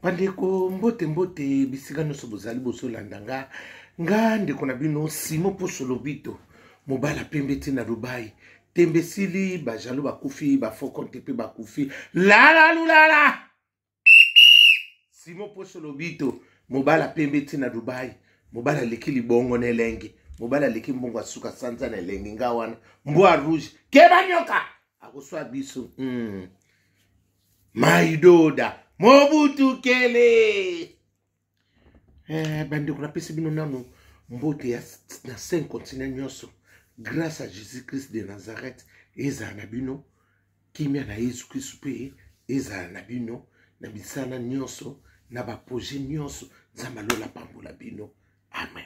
bandeko mbote mbote bisika nyonso bozali bozolanda nga nga ndeko na bino simo poso lobito mobala pembe ti na dubai tembe esili bajalo bakufi bafokonte mpe bakufi lalalulala simo poso lobito mobala pembe ti na dubai mobala aleki libongo na elenge mobala aleki mbongo asuka sanza na elenge nga wana mbwa rouge keba nyoka akoswa biso mm. maidoda mobutu kele eh, bandeko napesi bino nano mbote ya na cinq continent nyonso grâce à jésus christ de nazareth ezala na bino kimia na yesu kristu mpe ezala na bino na misala nyonso na baproje nyonso nzambe alola pambola bino amen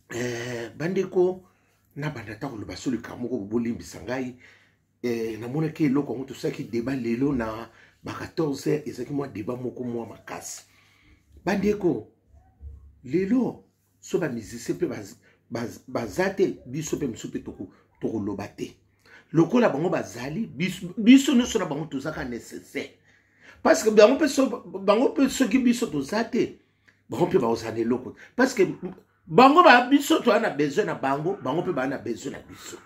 eh, bandeko nabanda ata koloba so likambo moko bolimbisa ngai eh, namonaki eloko yango tosalaki deba lelo na ba 14 heures ezalaki mwa deba moko mwa makasi bandeko lelo so bamusicien mpe baza baz, baz te biso mpe mosusu mpe tokoloba toko te lokola bango bazali biso nyonso na bango tozaka nécessaire parce que bango mpe soki biso toza te bango mpe bakozala na eloko parce que bango biso toza na besoin na bango bango mpe baa na besoin na biso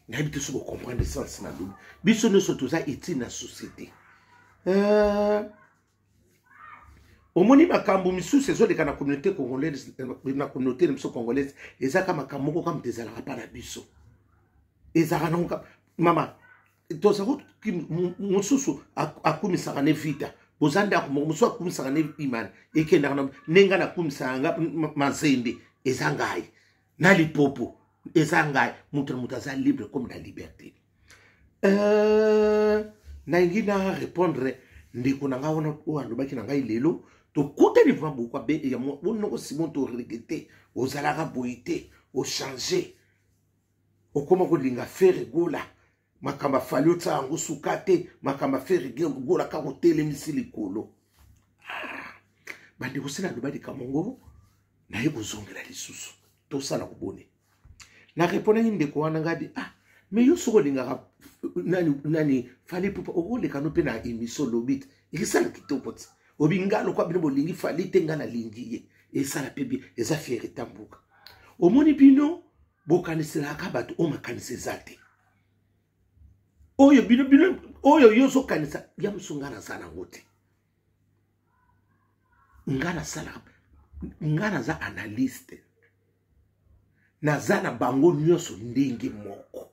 nayebi te soki bocomprendre sens na lobi biso nyonso toza utile na société euh, omoni makambo misusu ezoleka na communauté congolaise na communauté na biso congolaise ezaka makambo moko kaka moto ezalaka mpa na biso ezalaka nango mama tozali mosusu akumisaka ne vita boza ndako moko mosusu akumisaka ne imani ekendaka na nde ngai nakumisaka nga mazembe eza ngai na lipopo eza ngai moto na moto aza libre comme na liberté euh, nalingi na répondre ndeko na ngai wana oyo alobaki na ngai lelo tokutani vraimen bokwa be yango bonoko simon toregete ozalaka boye te ochange okoma kolinga fere gola makambo afali otya yango suka te makambo afere gola kaka otelemisi likolo ah, bandeko sila aloba likambo yango naye kozongela lisusu tosala kobone na repondaki ndeko wana ngai bi ah me yo soki olingaka nani, nani fali pupa okoleka no mpe na emission lobi te ekisala kitoko te obi ngai lokwa bino bolingi fali te ngai nalingi ye esala mpe bie eza fiere tambuka omoni bino bokaniselaka bato oyo makanisi eza te oyo bino bino oyo yo ozokanisa ya mosu ngai naza nango te ngai nasalaka ngai naza analyste naza na bango nyonso ndenge moko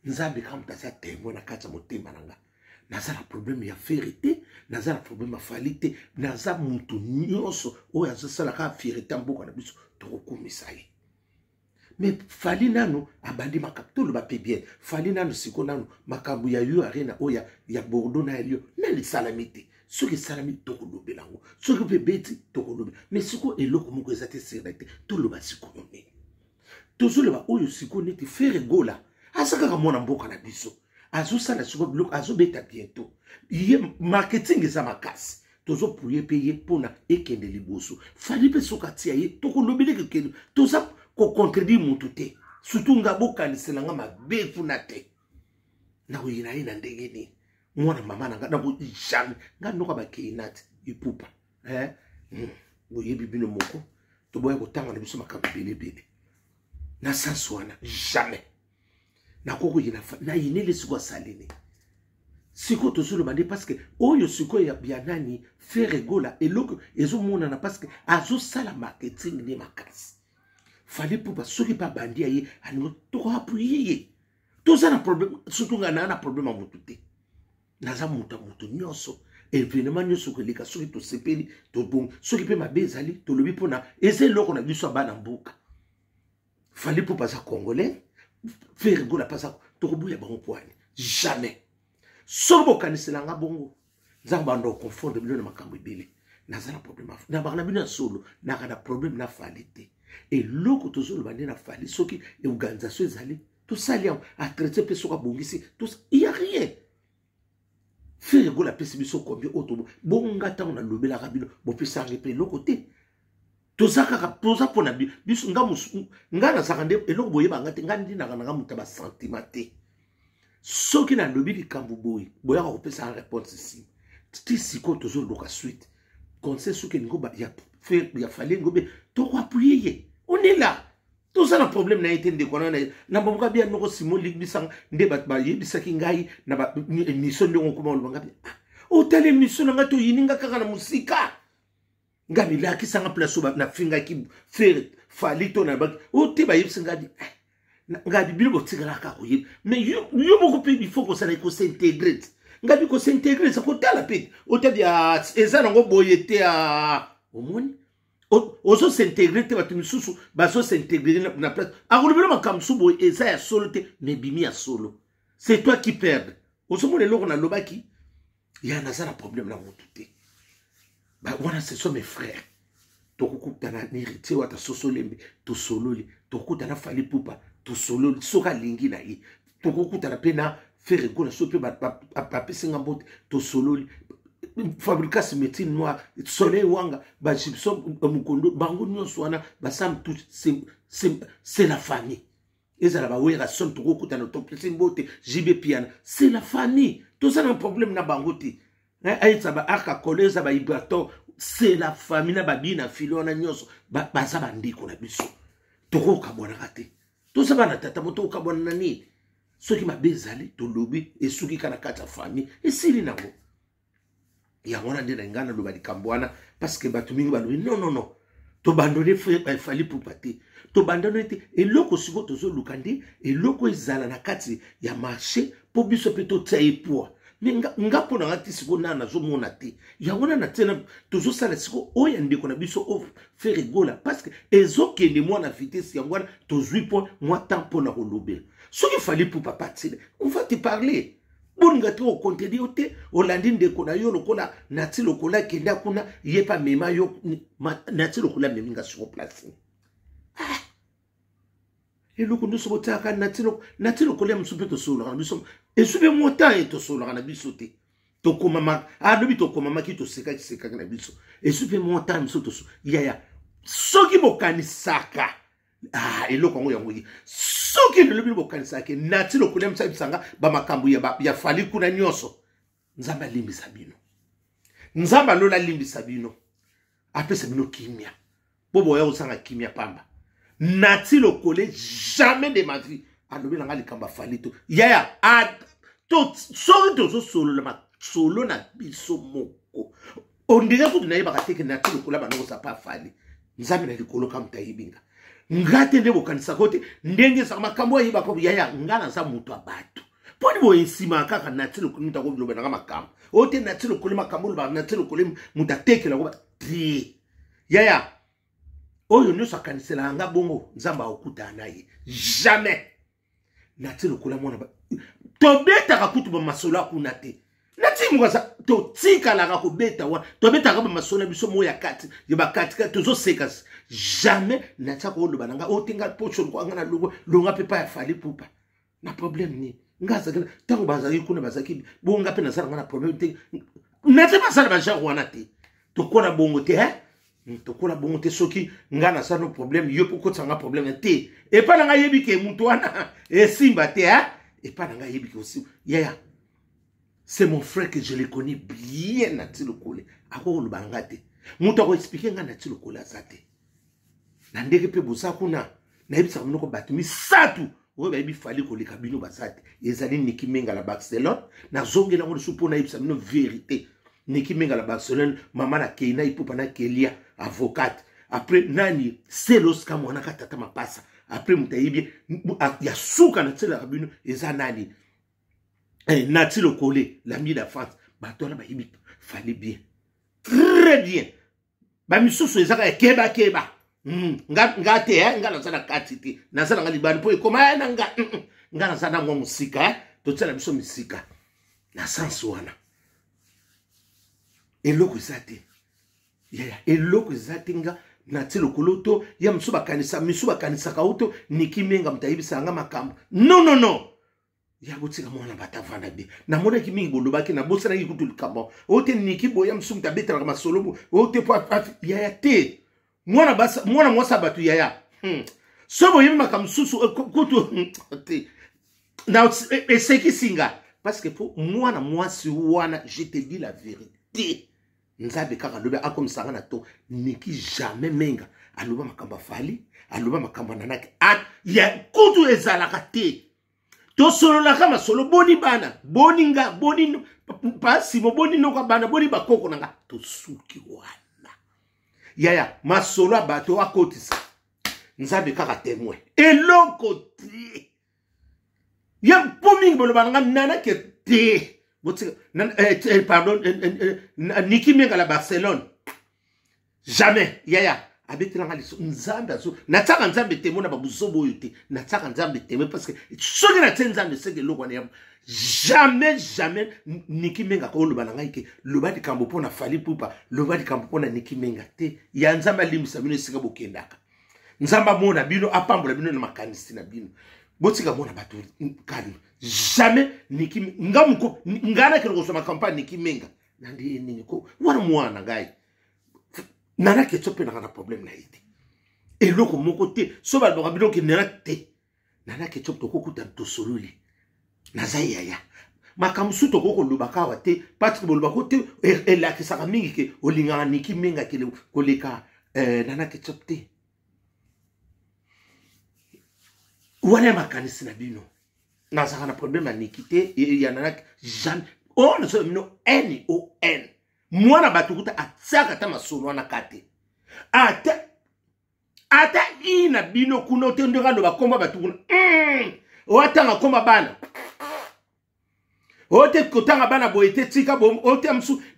nzambe kaka moto aza temoin na kati ya motema na ngai naza na problème ya fere te naza na problème ya fali te naza moto nyonso oyo azosalaka fere te mboka na biso tokokumisa ye mais fali nanu abandi makambo toloba mpe bien fali nanu siko nanu makambo ya yo arena oyo ya, ya bordeaux na elio nani esalami te soki esalami tokolobela yango soki mpe beti tokolobela mais siko eloko moko eza te sere te toloba sikoyo nini tozoloba oyo siko neti fere gola aza kaka mwana mboka na biso azosala siko biloko azobeta bientôt ye marketing eza makasi tozo puye mpe ye mpona ekende liboso fali mpe soki atia ye tokolobeli kekende toza kocontredire motu te surtout nga bokanisela nga mabe kuna te nakoyina ye na ndenge nini mwana mama na nga nako jamais nga noka bakeinate ipupa eh? hmm. boyebi bino moko toboya kotanga na biso makambo ebele ebele na sens wana jamais nakoki koyina nayini lisiko asali nini sikoyo tozoloba nde parceke oyo sikoyo ya, ya nani fere gola eloko ezomonana parceke azosala marketing nde makasi fali pupa soki babandi ya ye alingo tokoapuye ye toza na problème surtout ngai naa na problème ya motu te naza moto ya moto nyonso evenema nyonso koleka soki tosepeli tobongi soki mpe mabe ezali tolobi mpona eza eloko na biso ya bana mboka fali pupa aza congolais fere gola mpe aza tokobuya bango mpo ani jamais soki bokanisela nga bongo nzambe banda oconfondre bino na makambo ebele naza na problème na baka na bino ya solo naka na problème na fali te eloko tozoloba nde na fali soki organisation ezali tosali yango atraite mpe soki abongisi il ya rien frere gola apesi biso combien oyo tobo bonga ntango nalobelaka bino bopesange mpe eloko te toza kaka toza mpo na biso nga ngai nazalaka nde eloko boyeba nga te ngai ndinaka na nga moto ya basentiment te soki nalobi likambo boye boyaka kopesa nga réponse nsima ti sikoyo tozoluka suite conseil soki elingi ya fale ngobe tokoapuye ye on est là toza na problème na ye te ndeko wana na baboka bia noko simo ligbisanga nde bato bayebisaki ngai na baémission ndenge okoma oloba nga bia ah, otala émission na ngai toyini nga kaka na mosika nga milakisa nga place oyo nafingaki fere fali to na baki o te bayebisi nga di eh, nga di bino botikalaka koyeba mais yo moko mpe il faut kosala ekosintegre te nga bi kosintegre sa kotala mpe otabi ah, eza nango boye te ah. omoni ozo s'integre te bato misusu bazo s'integre na place akolobela makambo mosusu boye eza ya solo te mais bimi ya solo c'est toi qui perde ozomona eloko nalobaki ya naza na problème na motu te wana ce sont mes frères tokokutana na héritier wata sosolembe tosololi tokokutana fali pupa tosololi soki alingi na ye tokokutana mpe na fere gola so mpe bapesi nga mbote tosololi fabricas médecine noire soleil wanga bagibson euh, mokondo bango nyonso wana basam tout c'est la famille ezala bawerrason tokokutana topesi mbote jb piana c'est la famille toza na problème na bango te ayetisa baarka kole eza baibraton c'est la famille na babii na fili wana nyonso baza bandeko na biso tokokabwanaka te toza bana tata moto okabwana na nini soki mabe ezali tolobi esuki kaka na kati ya famille esili nango yango wana nde na ngai naloba likambo wana parceke bato mingi balobi non non non tobandone fali eh, pupa te tobandone te eloko sikoyo tozoluka nde eloko ezala na kati ya marché mpo biso mpe totya ye poa me nga mpo na nga te sikoyo nana nazomona te yango wana na ntina tozosala sikoyo oyo ya ndeko na biso o fere gola parceke ezokende mwa na vitese yango wana tozwi mpo mwa temps mpo na kolobela soki fali mpo papa tile on va te parler bolinga te okontedi yo te olandi ndeko na yo lokola nati lokola kenda kuna ye mpe amema yo nati lokola amemi nga siko place ah. eloko nyonso botiaka nati lokolia mosusu mpe tosololaka na biso esu mpe mota ye tosololaka na biso te tokomama alobi ah, tokomamaki tosekaki sekaki na biso esu mpe mota mosusu toso yaya soki bokanisaka ah, eloko yango yango ye soki lelo bino bokanisaka nati lokolia misa bisanga bamakambo ya fali kuna nyonso nzambe alimbisa bino nzambe alola alimbisa bino apesa bino kimia mpo boya kozanga kimia pamba nati lokole jamais de ma vie alobi na ngai likambo afali to yaya soki tozosolola masolo na biso moko ondire kutu nayebaka teke nati lokola banoko sapa afali nzambe na likolo kamuta ayebi nga nga te nde bokanisaka te ndenge ezaka makambo ayebaka yaya nga naza moto ya bato mpo ni boye nsima kaka nati lokoli moto akolobelaka makambo oyo te nati lokoli makambo olobaka nati lokoli moto atekelaka te yaya oyo nyonso akaniselaka nga bongo nzambe akokutana na ye jamais natie lokola mwana ba tobetaka kutu bamasolo ya kuna te natie moko aza totikalaka kobeta wana tobetaka bamasolo ya biso moko ya kati ya bakatika tozoseka jamais natia koloba na ngai oyo oh, te ngai poso lokola ngai na longo longa mpe pa ya fali pupa na problème nini ngai azalaki ntango bazalaki kuna bazalaki bongo ngai mpe nazala ngai na problème te natie basala bagenre wana te tokola bongo te hein? Hmm, tokola bongo te soki ngai naza no problème yo mpo okotisa ngai problème te epai na ngai yebi ke moto wana esimba te a epai na ngai yebi ke osimba yaya c'est mon frère que je le connais bien na ti lokole akoki koloba na ngai te moto akoexplike ngai na ti lokole aza te na ndenge mpe boza kuna nayebisaka monoko bato misato oyo bayebi fali koleka bino baza te ezali niki mengala barcelone nazongela yango lisusu mpo nayebisa bino verité niki mengala barcelone mama na kei na ipupa na kelia avocate apres nani selos ka mwana ka tata mapasa apres moto ayebi ya suka na tiselaka bino eza nani eh, nati lokole lami la france bato wana bayebi fali bien très bien bamisusu eza kaka kebakeba hmm, nga te eh, nga naza na kati te naza nanga libani mpo ekoma eh, na nga hmm, hmm. nga naza nango mosika eh. totyela biso misika na sanse wana eloko eza te yaya eloko eza te nga na ti lokolo to ya misu bakanisa misu bakanisaka uto niki menga moto ayebisaka nga makambo non non non ya botika mwana bata vanda bien namonaki mingi bolobaki nabosanaki kutu likambo oyo te niki boya mosusu moto abetelaka masolo oyo te po yaya te mwana basa mwana mwasi ya bato yaya hmm. so boyebi makambo mosusu eh, kutu hmm, te na eh, esekisi nga parce que po mwana mwasi wana je te dis la vérité nzambe kaka alobi akomisanga na to niki jamais menga aloba makambo afali aloba makambo ananaki ya kutu ezalaka te tosololaka masolo boni bana boni nga boni pasimo boni noka bana boni bakoko na nga tosuki wana yaya masolo ya bato akotisa nzambe kaka temoin eloko te ya mpo mingi boloba na nga nanake te botika eh, eh, pardon eh, niki menga la barcelone jamais yaya abetela nga liso nzambe azo natyaka nzambe temo na babuzoba oyo te natyaka nzambe temo parce que soki natye nzambe seke eloko wana ya jamais jamais niki menga akoloba na ngai ke loba likambo mpo na fali pupa loba likambo mpo na niki menga te ya nzambe alimbisa bino esika bokendaka nzambe amona bino apambola bino na makanisi na bino botika mona bato kani jamais niki nga moko nga nakende kozwa makambo mpa niki menga na ndeye nini ko wana mwana ngai nana ketso mpe naka na problème na ye te eloko moko te so balobaka bino ke nana te nana ketso tokokuta tosololi naza yaya makambo mosusu tokoki kolobaka awa te patrik bolobaka te e-, elakisaka mingi ke olingaka niki menga kele koleka eh, nana ketso te wana ya makanisi na bino nazalaka na problème ya niki te ya nana jamais oyo oh, nazoya bino n o n mwana bato kuta atiaka ata masolo wana ka te ata ata i na bino kuna ote ndenge aloba komba bato kuna mm. oatanga komba bana ote kotanga bana boye te tika ote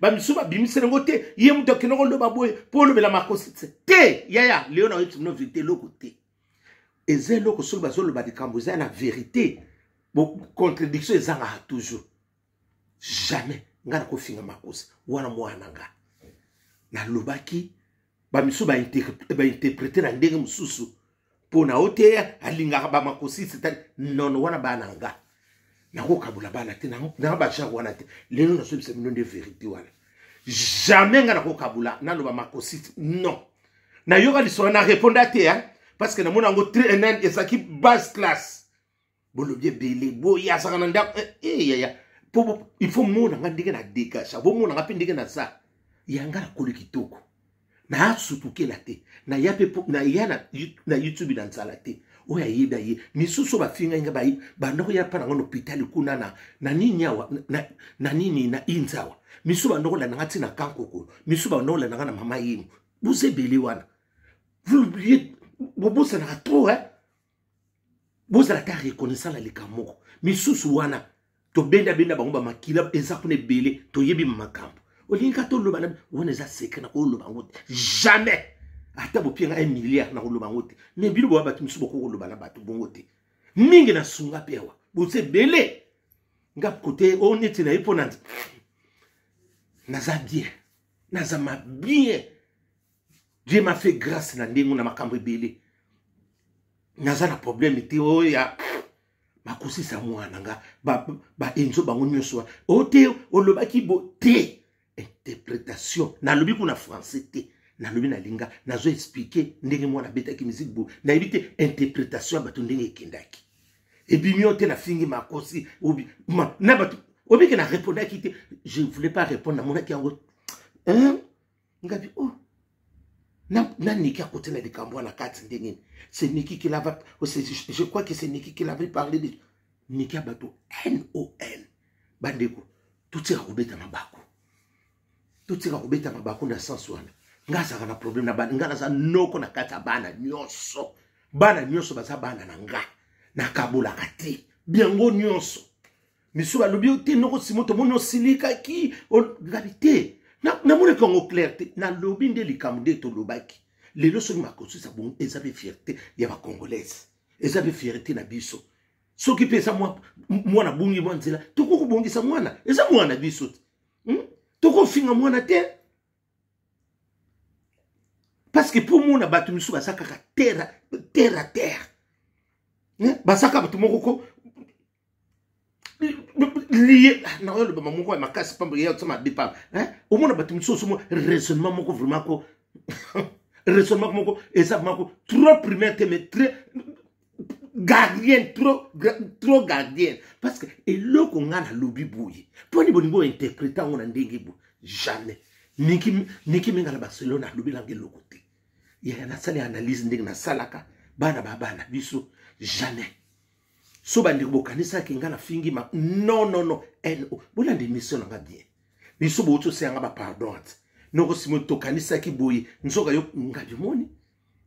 bamisu babimisi nango te ye moto akende koloba boye mpo olobela makosi te yaya leo na oyebisi bino verité eloko te eza eloko soki bazoloba likambo eza na verité contradiction ezangaka toujours jamais ngai nakofinga makosi wana mwana na ngai nalobaki bamisusu bainterprete na ndenge mosusu mpo na oteya alingaka bamakosi setani nono wana bana na ngai nakokabola bana te na bajare wana te lelo nazobisa bino nde verité wana jamais ngai nakokabola naloba makosi non nayoka lisolo na reponda te parce que namona yango trnn ezalaki base classe bolobi ebele boye azaka na ndako eh, eh, yaya po il faut mona nga ndenge na degage bomona nga mpe ndenge naza yanga nakoli kitoko nasutukela te naya mpe naya na youtube na nzala te oyo ayebi aye misusu bafingai nga banda koya mpa nango na hopitali kuna na, na nini awa na, na nini na inza awa misusu banda kolanda nga ntina kankokolo misusu banda kolanda nga na mama yemo boza ebele wana bobosanaka trop eh? bozala ata reconnaissant na likambo moko misusu wana tobendabenda bango bamakila eza kuna ebele toyebi makambo olingi ka toloba na wana eza secret nakoloba yango te jamais ata bopie nga 1 milliard nakoloba yango te me bino boya bato mosusu bokoki koloba na bato bongo te mingi na sunga mpe awa boza ebele nga kote oyo neti na ye mpo na naza bien naza mabien Dieu m'a fait grâce na ndenge na makambo ebele naza na problème te oyo oh, ya bakosisa mwana na nga baenzo ba bango nyonso wa o oh, te olobaki bo te interpretation nalobi kuna français te nalobi nalinga nazo explike ndenge mwana abetaki miziki bo nayebi te interpretation ya bato ndenge ekendaki ebimi yo te nafingi makosi obi, ma, na bato obike na repondaki te je voulais pas répondre namonaki yango hein? ngabi oh naniki akote na likambo wana kati nde nini se niki kilava je crois que se niki kilava parle de niki ya bato non bandeko totika kobeta mabaku totika kobeta mabaku na sense wana nga azalaka na problème na bana nga naza noko na kati ya bana nyonso bana nyonso baza bana na nga nakabolaka te biango nyonso misu balobi yo te noko simo tomoni osilikaki ngabi te namonaki yango claire te nalobi nde likambo nde tolobaki lelo soki makosisa bongo eza mpe fierté ya bacongolaise eza mpe fierté na biso soki mpe eza mwana bongi mwa nzela tokoki kobongisa mwana eza mwana biso te hmm? tokofinga mwana te parce que mpo omona bato misusu baza kaka terre terre terre baza kaka bato moko ko liye ah, naoyo lobama moko ya makasi pamba ya kosama mabe pamba omona bato mosusu mo raisonnement moko vraiment ko raisonnement moko eza moko trop primaire te mais très gardien trop, trop gardien parce que eloko ngai nalobi boye mpo ni bolingi ointerprete yango na ndenge boye jamais niki minga na barcelone alobelanga eloko te yaya nasali analyse ndenge nasalaka bana babana biso jamais so bandeko bokanisaki ngai nafingi ma non non non no bolanda emission na ngai bien biso bouti oseya ngai bapardon ati noko simo tokanisaki boye nzoka yo ngabi omoni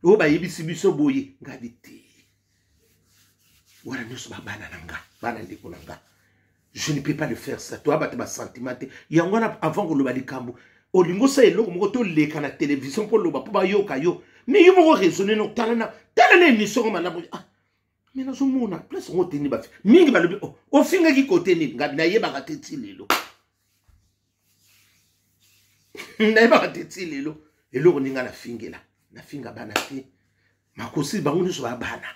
oyo bayebisi biso boye ngabi te wana nyonso babana na nga bana ndeko na nga je ne peux pas le faire ça toya bato basentiment te yango wana avant koloba likambo olingi osala eloko moko toleka na televizio mpo oloba mpo bayoka yo mais yo moko raisonne no tala na tala na émission ngo malamu ah me nazomona place yango oteni bafi mingi balobi oh, ofingaki kote nini ngabi nayebaka te ti lelo nayebaka te ti lelo eloko ndinga nafingela nafinga bana te makosi bango nyonso babana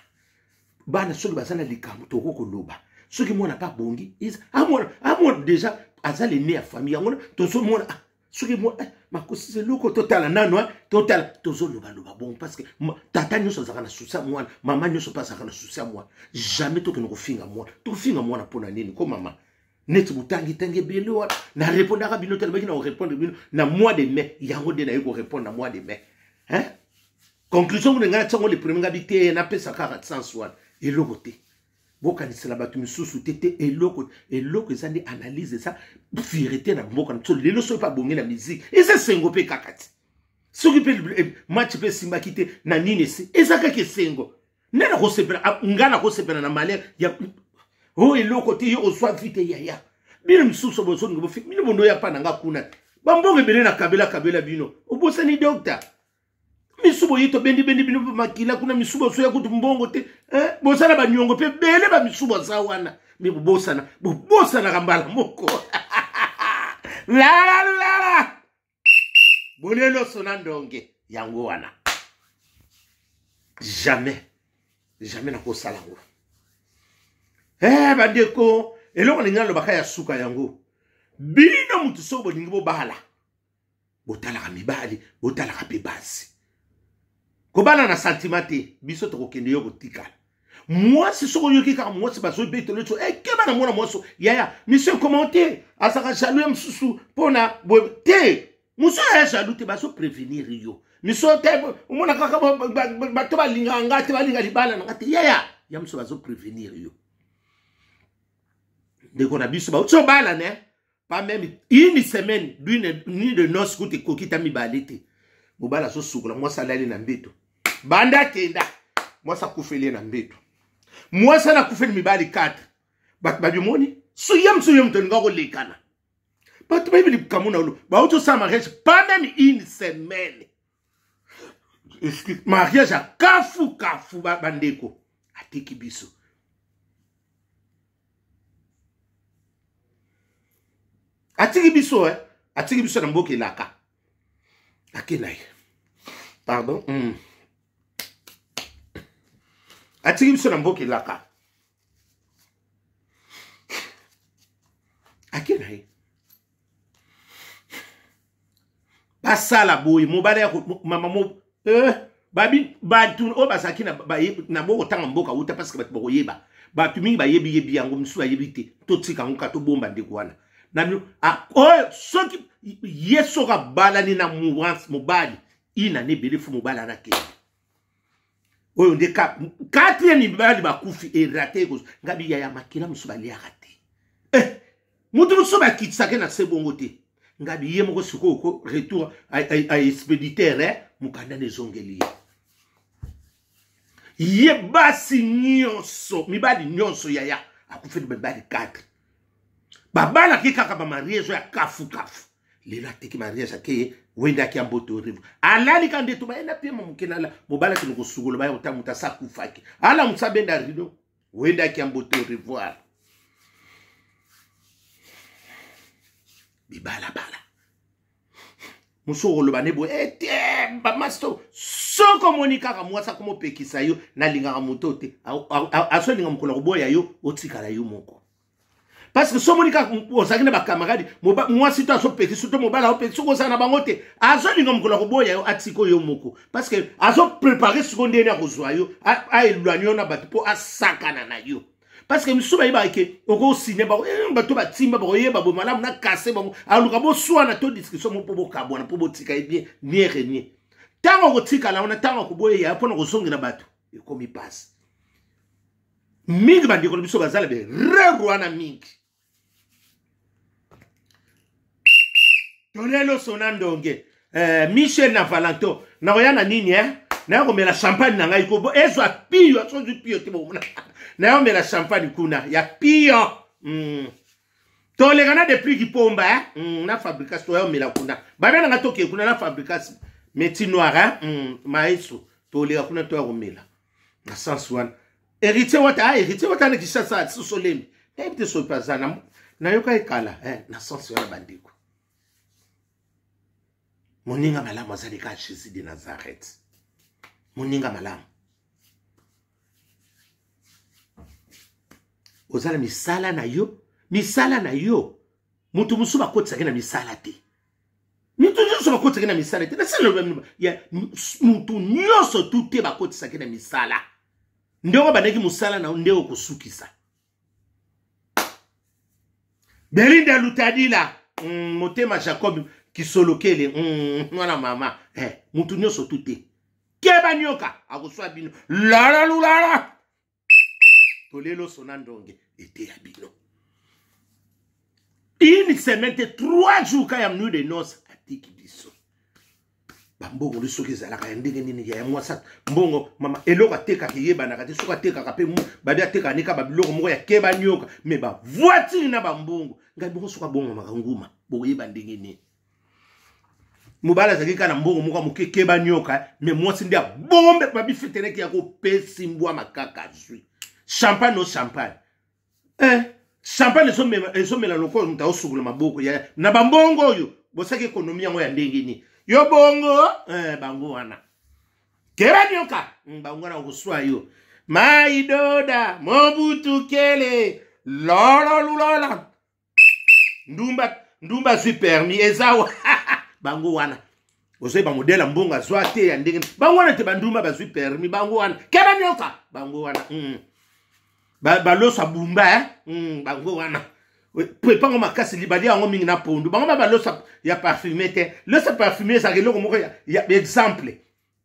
bana soki baza na likambo tokoki koloba soki mwana mpe abongi amona amona deja aza lene ya famille yango tozomona ah, soki mwa eh, makosi eloko totala nano eh, totala tozolobaloba bongo parceke tata nyonso azalaka na susi ya mwana mama nyonso mpe azalaka na susi ya mwana jamais tokende kofinga mwana tofinga mwana mpo na nini ko mama neti botangitangi ebele wana narepondaka bino te nabaki na korepondre bino na mois de mai yango nde naye korepondre na mois de mai hein? conclusion kuna ngai natiango le premier ngai biteye napesa kaka sens wana eloko te bokanisela bato misusu te te eloko eloko eza nde analyse eza verité na mboka na biso lelo soki mpe abongi na miziki eza esengo mpe kaka ti soki mpe eh, match mpe esimbaki te na nini esi eza kaka esengo nde nakosepela ah, ngai nakosepela na malere ya o oh, eloko te yo ozwa vi te yaya bino misusu bozongi bofi bino bondo ya mpa na ngai kuna bambongo ebele na kabela kabela bino obosani dokta misu boye tobendibendi bino mpe makila kuna misu bosoya kutu mbongo te eh, bosala baniongo mpe bele bamisu baza wana me bobosana bobosanaka mbala moko lalalala boleloso na ndonge yango wana jamais jamais nakosala yango eh, bandeko eloko lingi nalobaka ya suka yango bino motu soko bolingi bobala botalaka mibali botalaka mpe basi kobana na santima te biso tokokende yo kotikala mwasi soki oyoki kaka mwasi bazobetelo so ekeba eh, na mwana mwasi yaya miso ekoma te azalaka jaloux ya mosusu mpo na boye te mosusu aya jaloux te bazoprevenir yo miso te omona kaka bato balingaka nga te balinga libala na nga te yaya ya mosusu bazoprevenir yo ndeko na biso bauti obalana pas même une semaine d'une nuit de noce kutu ekoki ta mibale te mobali azosukola mwasi alali na mbeto banda akenda mwasi akufeli ye na mbeto mwasi ana akufeli mibali 4 bato babimoni suye mosusu ye moto alinga kolekana bato bayebi likambo na olo bauti osala mariage pas même une semaine mariage ya kafu kafu bandeko ba atiki biso atiki biso eh? atiki biso na mboka elaka ake na ye pardon mm. atiki biso na mboka elaka ake na ye basala boye mobali ya mama mo eh, babi bato oyo bazalaki na bokotanga mboka uta parce que bato bakoyeba bato mingi bayebi yebi yango mosusu bayebi te totika yango ka tobomba ndeko wana na bino oyo soki ye soki abalani na mobali ina na ebele fo mobali anakende oyo nde kati ya mibali bakufi erate ekozo nga biya ya makila mosusu baliaka te eh, moto mosusu bakitisake na se bongo te nga biye moko sikoyo ko retour a expeditaire eh, mokanda na ezongeli ye ye basi nyonso mibali nyonso yaya akufeli mibali 4 babalaki kaka bamariage ya kafukafu lelo ateki mariage akeye wende akia mboto orivo alali ka ndeto bayenda pie ma moke nala mobali akende kosukolo baya kotanga moto asa akufaki ala moto abenda rido wende akia mboto orivoire bibalabala mosu okoloba ne boye ete eh, bamasi to soki omoni kaka mwasi akoma opekisa yo nalingaka moto te asolinga mokolo akoboya yo otikala yo moko parce que somoni kaka ozalaki na bacamarade mwasi to azopekisi to mobali aopekisi soki ozala na bango te azolinga mokolo ya koboya yo atika yo moko parce que azoprepare siko ndeni akozwa yo aelwani yo na bato mpo asakana na yo parce que misusu bayebaka ke okosine bango eh, bato batimba bakoyeba boye malamu na kase bango aluka boswana to discussion mo mpo bokabwana mpo botika ye bien nie renie ntango okotikala wana ntango akoboya ya mpo na kozongela bato ekomi mpasi mingi bandeko na biso bazala be rere wana mingi tolelo sona ndonge eh, michel na valentin nakoya na nini eh? naye komela champagne na ngai ko ezwa piyo asozwi piyo te bomona naye omela champagne kuna ya piyo mm. toleka na depuis kipomba eh? mm, na fabricas toya omela kuna babia na ngai tokee kuna na fabricas meti noir eh? mm, maeso toleka kuna toya komela na sens wana héritier wata a ah, héritier wata na kishasa ah, sosolembi nayebi te soki aza na nayoka ye kala eh, na sens wana bandeko moninga malamu azali kaka jésus de nazareth moninga malamu oza na misala na yo misala na yo moto mosusu bakotisaki na misala te moto nyonso bakotisaki na misala te nasala ya moto nyonso tu te bakotisaki na misala nde oko bandaki mosala na nde okosukisa belinda lutadila mm, motema jacob kisolokele mm, mwana mama eh, moto nyonso tu te keba nioka akoswa bino lalalulala tolie loso na ndonge eteya bino une semaine te trois jours ka ya mnui de noce atiki biso bambongo nde soki ezalaka ya ndenge nini ya ya mwasi mbongo mama eloko atekaka eyebanaka te soki atekaka mpe babi atekaka nika babiloko moko ya keba nioka me bavoitire na bambongo ngai boko soki abongamaka nguma bokoyeba ndenge nini mobali azalaki kaka na mbongo moko moke keba nyoka eh. me mwasi nde abombe babifeteleki ya kopesi mbwa makaka azwi champagne o champagne eh, champagne ezomela lokola moto aosukola maboko ya na bambongo oyo bosaki ekonomi yango ya ndenge nini yo bongo eh, bango wana keba nyoka hmm, bango wana okoswa yo maidoda mobutu kele lololulola ndumba ndumba azwi permis eza wa bango wana ozwi bamodele ya mbongo azwa te ya ndenge bango wana te bandumba bazwi permis bango wana keba nioka bango wana mm. baloso ba abumba eh? mm, bango wana epango makasi libali yango mingi na pondu bango ba balosa ya parfume te losa parfume ezalaka eloko moko ya, ya exemple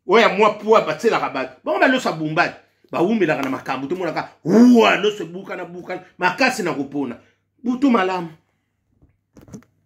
oyo ya mwa pua batielaka bato bango baloso abumbaki bawumelaka na makambo tomonaka wa loso ebukana bukana makasi na kopona butu malamu